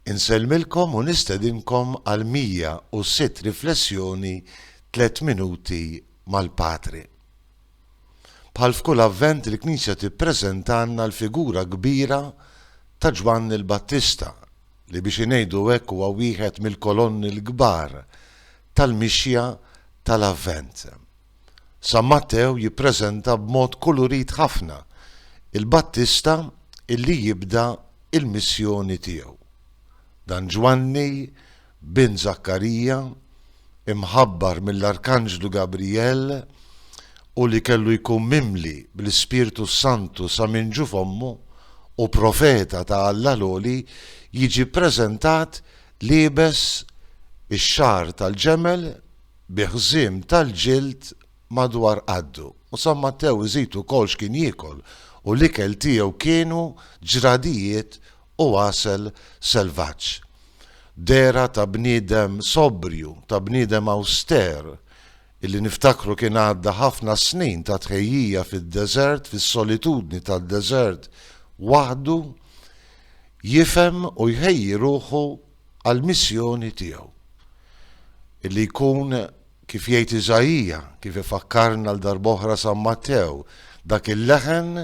Insellmilkom u nistedinkom għal 106 riflessjoni Tliet Minuti mal-Patri. Bħal f'kull Avvent il-Knisja tippreżentalna l-figura kbira ta' Ġwanni l-Battista li biex ingħidu hekk huwa wieħed mill-kolonni l-kbar tal-mixja tal-Avvent. San Mattew jippreżenta b'mod kulurit ħafna il-Battista illi jibda l-missjoni tiegħu. Dan Ġwanni, bin Żakkarija, imħabbar mill-Arkanġlu Gabrijel u li kellu jkun mimli bl-Ispirtu s-Santu sa minn ġuf ommu u profeta ta' Alla l-Għoli jiġi ppreżentat liebes ix-xagħar tal-ġemel bi ħżiem tal-ġild madwar qaddu, u San Mattew iżid ukoll x'kien jiekol, u l-ikel tiegħu kienu ġradijiet u għasel selvaġġ. Dehra ta' bniedem sobrju, ta' bniedem awster, illi niftakru kien għadda ħafna snin ta' tħejjija fid-deżert, fis-solitudni tad-deżert waħdu, jifhem u jħejji ruħu għall-missjoni tiegħu, li jkun, kif jgħid Iżaija, kif ifakkarna għal darb'oħra San Mattew, dak il-leħen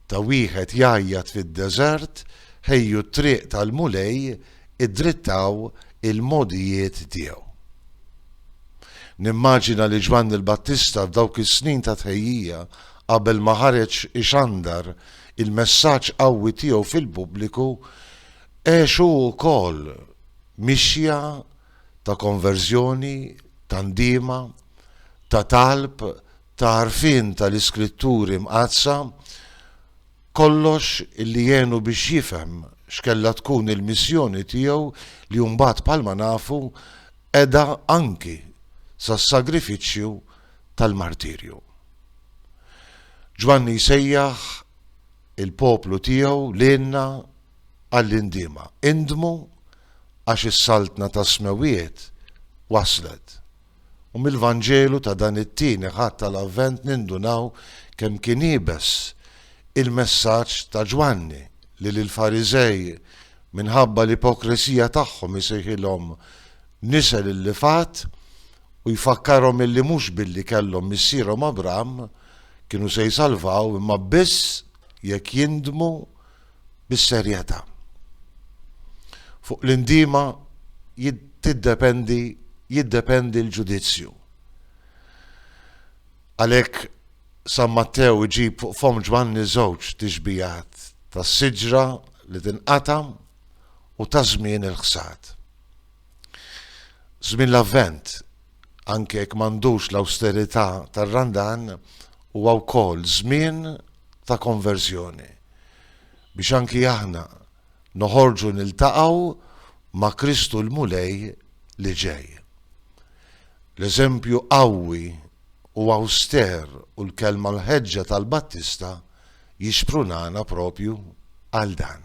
ta' wieħed jgħajjat fid-deżert, Ħejju t-triq tal-Mulej, iddrittaw il-mogħdijiet tiegħu. Nimmaġina li Ġwanni l-Battista f'dawk is-snin ta' tħejjija qabel ma ħareġ ixandar il-messaġġ qawwi tiegħu fil-pubbliku Għex hu wkoll mixja ta' konverżjoni, ta' ndiema, ta' talb, ta' għarfien tal-Iskritturi Mqaddsa, kollox li għenu biex jifhem x'kellha tkun il-missjoni tiegħu li mbagħad bħalma nafu qeda anki sas-sagrifiċċju tal-martirju. Ġwanni jsejjaħ il-poplu tiegħu lilna, għall-indiema, Indmu għax is-Saltna tas-Smewwiet waslet! U mill-Vanġelu ta' dan it-Tieni Ħadd tal-Avvent nindunaw kemm kien iebes il-messaġġ ta' Ġwanni li lill-Fariżej minħabba l-ipokresija tagħhom isejħilhom nisel illifat u jfakkarhom illi mhux billi kellhom missierhom Abram kienu se jsalvaw imma biss jekk jindmu bis-serjetà. Fuq l-indiema tiddependi jiddependi l-ġudizzju. Għalhekk San Mattew iġib fuq fomm Ġwanni żewġ tixbihat ta' siġra li tinqata' u ta' żmien il-ħsad. Żmien l-Avvent Anke jekk m'għandux l-awsterità tar-Randan, huwa wkoll żmien ta' konverżjoni, biex anki aħna noħorġu niltaqgħu ma' Kristu l-Mulej li ġej. L-eżempju qawwi u awster u l-kelma mħeġġa tal-Battista jixprunana proprju għal dan.